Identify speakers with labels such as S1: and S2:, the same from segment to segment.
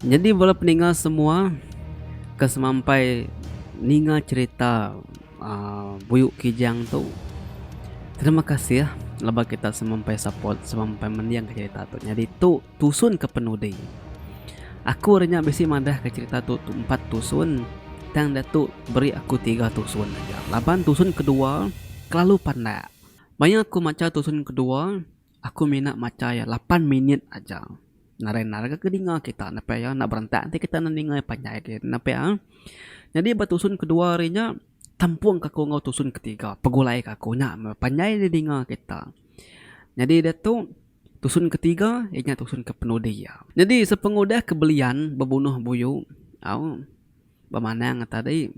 S1: Nyadi bala peninga semua ke semampai ninga cherita aaa Buyuk Kijang tu terima kasih laban kita semampai support semampai mendingka cherita tu nyadi tu tusun ke penudi. Aku ari nya bisi madah ke cerita tu empat tusun tang datu beri aku tiga tusun aja laban tusun kedua kelalu pandak. Maya aku macha tusun kedua aku mina macha iya lapan minit aja nadai nadai ke dinga kita enda payah iya enda berentak enti kita enda ninga iya panjai agi enda payah nyadi ba tusun kedua ari nya tempung ke aku enggau tusun ketiga pegulai ke aku nya meh panjai di dinga kita nyadi diatu. Tusun ke tiga iya nya tusun ke penudi iya. Nyadi sepengudah ke belian bebunuh buyu au bemanang ngan tadi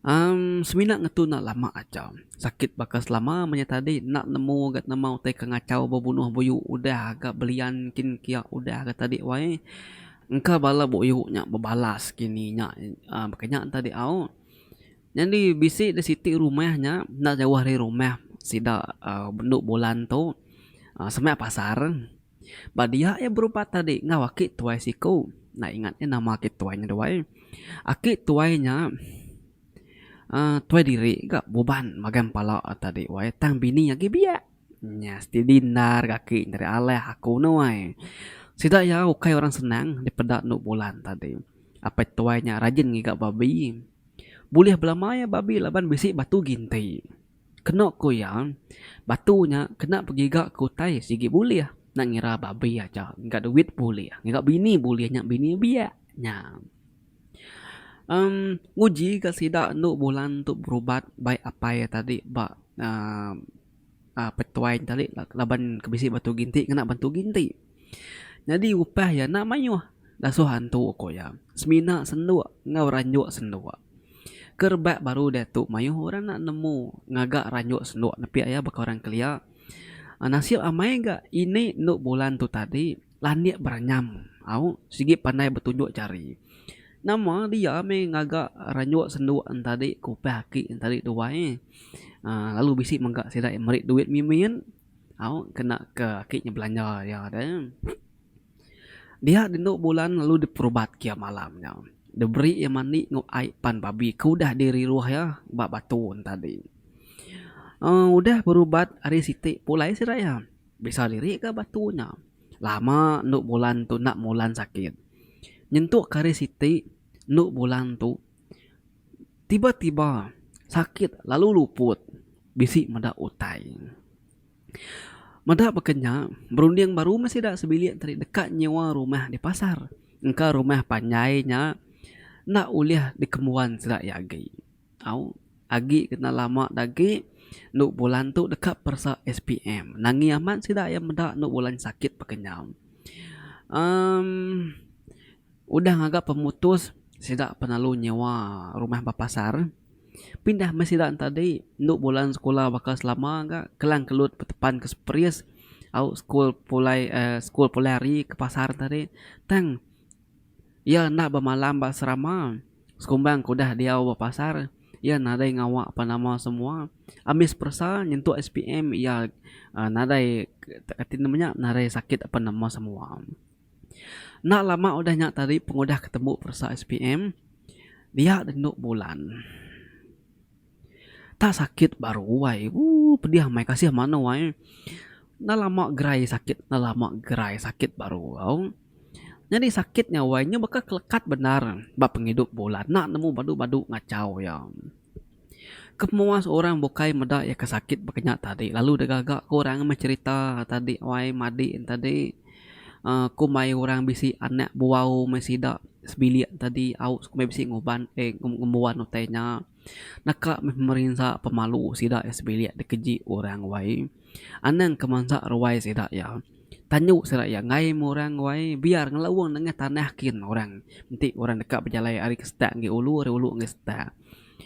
S1: amm semina ngetu enda lama aja sakit baka selama menya tadi enda nemu ga nama utai ke ngachau bebunuh buyu udah ga belian kin kiya udah ga tadi wai engka bala buyu nya bebalas kini nya amm baka nya tadi au. Nyadi bisi da siti rumah nya enda jauh ari rumah sida bendu Bulan tu sema pasar. Ba dia iya berubat tadi enggau aki tuai siku. Enda ingat iya nama aki tuai nya duai. Aki tuai nya uhh tuai diri ga buban magang empala tadi wai tang bini agi biak. Nya siti dindar ga aki nya tadi alah aku nuai. Sida iya ukai orang senang dipeda endu Bulan tadi. Apai tuai nya rajin ngiga babi. Bulih belama iya babi laban bisi batu ginti. Keno ku iya, batu nya kena begiga ke utai sigi bulih enda ngira babi aja ngiga duit bulih ngiga bini bulih nya bini biak nya. Em nguji ga sida anu bulan tu berubat bai apai iya tadi ba aaa. A petuai tadi laban ke bisi batu ginti ngena batu ginti nyadi upah iya enda mayuh dasuh antu ku iya semina senduk enggau ranjuk senduk ke rebak baru diatu mayuh orang enda nemu ngaga ranjuk senduk nepik iya baka orang kelia nasib amai ga ini endu bulan tu tadi. Landik beranyam au sigi pandai betunjuk jari. Nama dia meh ngaga ranjok sendok entadi ke upah aki entadi duai uhh lalu bisi mega sida iya meri duit mimin au kena ke aki nya belanja iya deh. Dia di endo bulan lalu di perubat ke iya malam nya. De beri iya mandi enggau ai pan babi ke udah di riruh iya ba batu entadi. uhh udah berubat ari siti pulai sida iya. Bisa diri ga batu nya. Lama endu bulan tu enda mulan sakit. Nyentuk kari siti endu bulan tu tiba tiba sakit lalu luput bisi meda utai. Meda baka nya berunding baru meh sida sebilik tadi deka nyewa rumah di pasar engka rumah panjai nya enda ulih dikembuan sida iya agi. Tau agi kena lama da agi enu bulan tu deka peresa SPM. Nangi amat sida iya meda enu bulan sakit pa kenyau. Emm udah ngaga pemutus sida penelu nyewa rumah ba pasar. Pindah meh sida enta di enu bulan sekula baka selama ga Kelang Kelut betepan ke Seperis au school pulai aaa school pulai ari ke pasar tadi tang Iya enda bemalam ba serama. Sekumbang ke udah diau ba pasar, iya nadai ngawa pan nama semua. Ambis peresa nyentuk SPM iya nadai kati nama nya nadai sakit pan nama semua. Enda lama udah nya tadi pengudah ke tembu peresa SPM, dia rindu bulan. Tak sakit baru wai. Ooh pedih amai kasih mano ai. Enda lama gerai sakit enda lama gerai sakit baru au. Nyadi sakit nya wai nya baka kelekat bendar ba pengidup bulan enda nemu badu badu ngachau iya. Kemuas orang bukai meda iya ke sakit baka nya tadi lalu deh gaga ke orang meh cherita tadi wai madi tadi. Kumbai orang bisi anak buau meh sida sebilik tadi au sekumbai bisi nguban eh ngembuan utai nya deka meh merinsa pemalu sida eh sebilik ti keji orang wai anang ke mansa ruai sida iya tanyu sida iya enggai meh orang wai biar ngelaung nengah tanah kin orang enti orang deka bejalai ari ke setak enggi ulu ari ulu enggi setak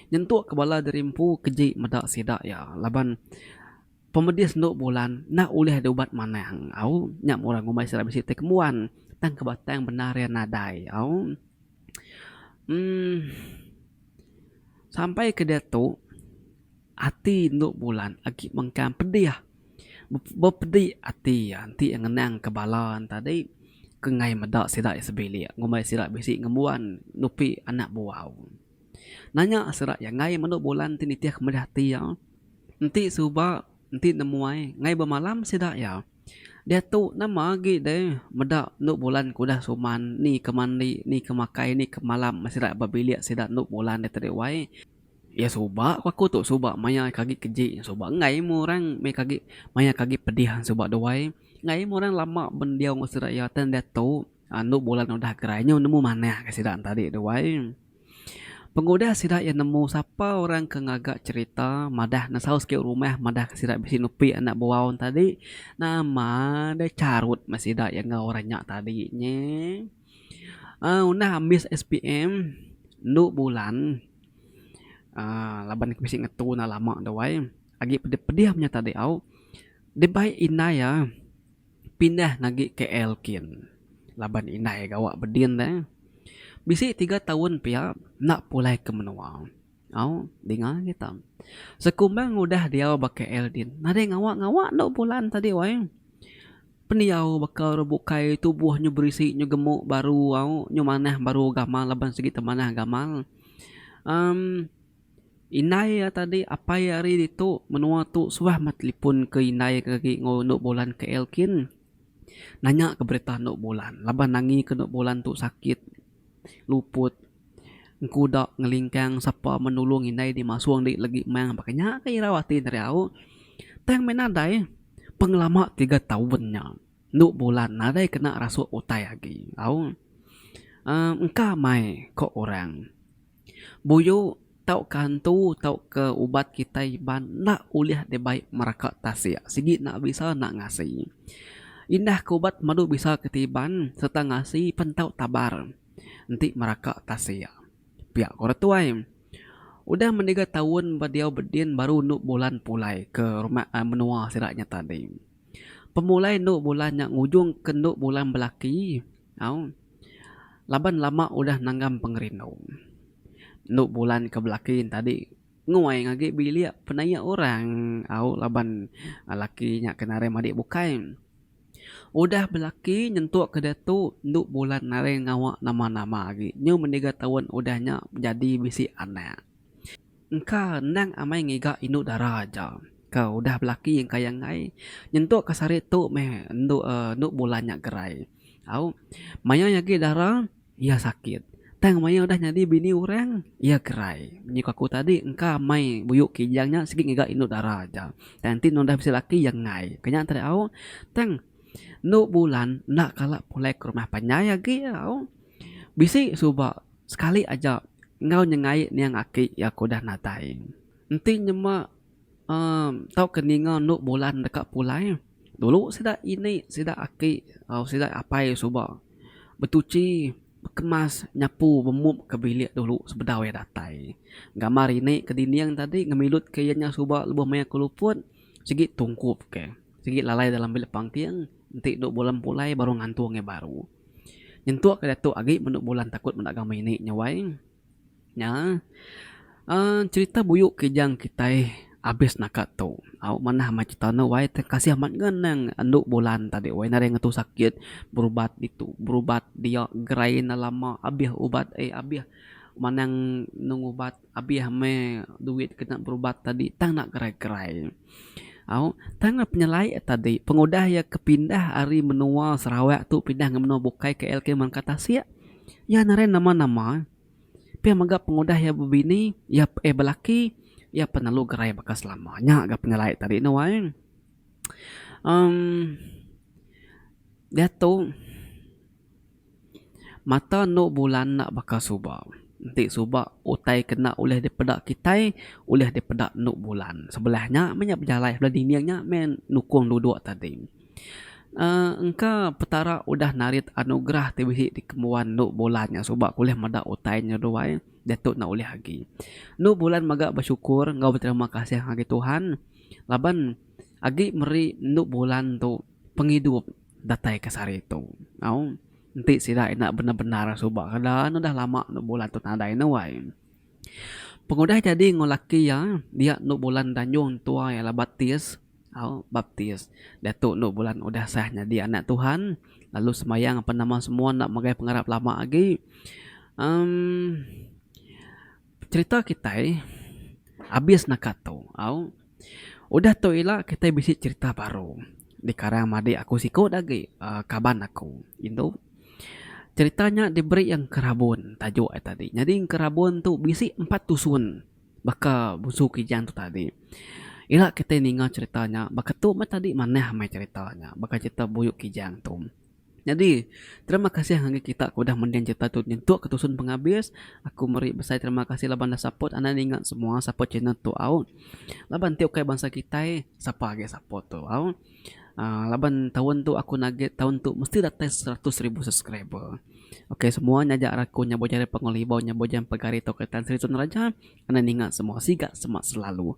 S1: nyentuk ke bala diri empu keji meda sida iya laban Pemedis endu bulan enda ulih diubat manah au nya murah ngumbai sida bisi ti kembuan tang ke batang bendar iya nadai au umm sampai ke diatu ati endu bulan agi mengkang pedih bepedi ati iya enti iya ngenang ke bala tadi ke ngai meda sida iya sebilik ngumbai sida bisi ngembuan nupi anak buah au nanya sida iya ngai menda bulan ti nitih ke meda ati iya. Enti suba, enti nemuai, ngai bemalam sida iya. Diatu nama agi deh meda endu bulan ke udah suman, ni ke mandi, ni ke makai, ni ke malam meh sida ba bilik sida endu bulan deh tadi wai. Iya suba ku aku tu suba maya ke agi keji, suba enggai meh orang meh ke agi maya ke agi pedih suba duai. Enggai meh orang lama bendiau enggau sida iya tang diatu endu bulan udah gerai nyau nemu manah ke sida tadi duai. Pengudah sida iya nemu sapa orang ke ngaga cherita madah nesau siti rumah madah ke sida bisi nupi anak buau ne tadi nama deh charut meh sida iya enggau orang nya tadi nye uhh ngundah ambis SPM enu bulan uhh laban ku bisi ngetu ne lama deh wai agi pedih pedih nya tadi au dibai indai iya. pindah ngagi KL kin laban indai gawa bedin deh. Bisi tiga taun pia enda pulai ke menua. Au dinga kita. Sekumbang udah diau ba KL din nadai ngawa-ngawa enda bulan tadi wai. Pendiau baka orang bukai tubuh nyu berisi nyu gemu baru au nyu manah baru gamal laban sigi temanah gamal. Em. Indai iya tadi apai iya ari ditu. Menua tu suah meh telipon ke indai ke agi enggau endo Bolan KL kin nanya ke berita endo Bolan laban nangi ke endo Bolan tu sakit luput engkuda ngelingkang sapa meh nulung indai dimasung dik legi mang baka nya ke irau ati enda diau. Tang meh nadai pengelama tiga taun nya endo Bolan nadai kena rasuk utai agi au. Engka mai ko orang. Buyu tauka entu tauka ubat kitai iban enda ulih dibai meraka tasik sigi enda bisa enda ngasi. Indah ke ubat madu bisa kitai iban sereta ngasi pen tau tabar enti meraka tasik. Pia ko retuai udah mendiga taun ba diau bedin baru enu bulan pulai ke rumah menua sida nya tadi. Pemulai endu bulan nya ngujung ke endu bulan belaki au laban lama udah nanggam pengerindu. Endu bulan ke belaki enti tadi nguai nya agi bilik penaia orang au laban laki nya ke naring madik bukai. Udah belaki nyentuk ke diatu endu bulan naring ngawa nama-nama agi nyau meniga taun udah nya jadi bisi anak. Engka endang amai ngiga indu dara aja ke udah belaki engkai enggai nyentuk ka sari tu meh endu uhh endu bulan nya gerai. Au mayuh agi dara iya sakit tang mayuh udah nyadi bini orang iya gerai. Nyuka aku tadi engka amai buyu Kijang nya sigi ngiga indu dara aja tang enti udah bisi laki iya enggai. Ke nya tadi au tang endu bulan enda kala pulai ke rumah panjai agi au. Bisi suba sekali aja enggau nyengai niang aki iya ke udah nadai. Enti nyema uhh tauka ninga enu bulan deka pulai, dulu sida ini sida aki au sida apai suba betuchi bekemas nyapu bemup ke bilik dulu sebedau iya datai. Gambar ini ke dinding tadi ngemilutke iya nya suba lebuh maya ke luput sigi tungkup ke sigi lalai dalam bilik pangking enti enu bulan pulai baru ngantung iya baru. Nyentuk ka diatu agi menu bulan takut meda agama ini nya wai nya uhh cerita buyu kijang kitai abis naka tu au manah meh cerita anu wai terima kasih amat ngan nang andu bulan tadi wai nadai ngetu sakit berubat ditu berubat dia gerai enda lama abih ubat eh abih manang neng ubat. Abih meh duit kena berubat tadi tang enda kerai-kerai. Au, tang nya penyelai a tadi pengudah iya ke pindah ari menua Sarawak tu pindah ngah menua bukai KL kitai meri ka tasik. Iya narai nama-nama. Pia mega pengudah iya bebini, iya eh belaki, iya pun lalu gerai baka selama. Nya ga penyelai tadi ne wai. Amm diatu. Mata endo bulan enda baka suba. Enti suba utai ke enda ulih dipeda kitai ulih dipeda endo bulan. Sebelah nya meh nya bejalai sebelah dinding nya meh nukung duduk tadi. uhh engka petara udah narit anugerah ti bisi dikembuan endo bulan nya suba ku ulih meda utai nya duai diatu enda ulih agi. Endo bulan mega besyukur enggau beterima kasih ngagai Tuhan laban agi meri endo bulan tu pengidup. Datai ka sehari tu. Au. Enti sida enda bendar-bendar suba ka da anu dah lama enda bulan tu nadai anu ai. Pengudah jadi enggau laki iya dia enda bulan tanjung tua iya lah baptis. Au. Baptis. Diatu enda bulan udah sah nyadi anak Tuhan lalu sembahyang apan nama semua enda ngagai pengarap lama agi. Umm. Cherita kitai abis naka tu. Au. Udah tu ila kitai bisi cherita baru dikarang madik aku siku da agi uhh kaban aku indu. Cherita nya diberi Engkerabun tajuk iya tadi. Nyadi Engkerabun tu bisi empat tusun baka busu Kijang tu tadi. Ila kitai ninga cherita nya baka tu meh tadi manah meh cherita nya baka cherita Buyuk Kijang tu. Nyadi, terima kasih ngagai kita ke udah mending cerita tu nyentuk ke tusun pengabis. Aku meri besai terima kasih laban dah support anang ninga semua support channel tu au. Laban ti ukai bansa kitai, sapa agi support tu au. uhh laban taun tu aku nugget taun tu mesti datai seratus ribu subscriber. Ok semua nya aja raku nya bujang ari Pangu Libau nya bujang pegari tauka Tan Sri Sunaraja. Anang ninga semua siga semak selalu.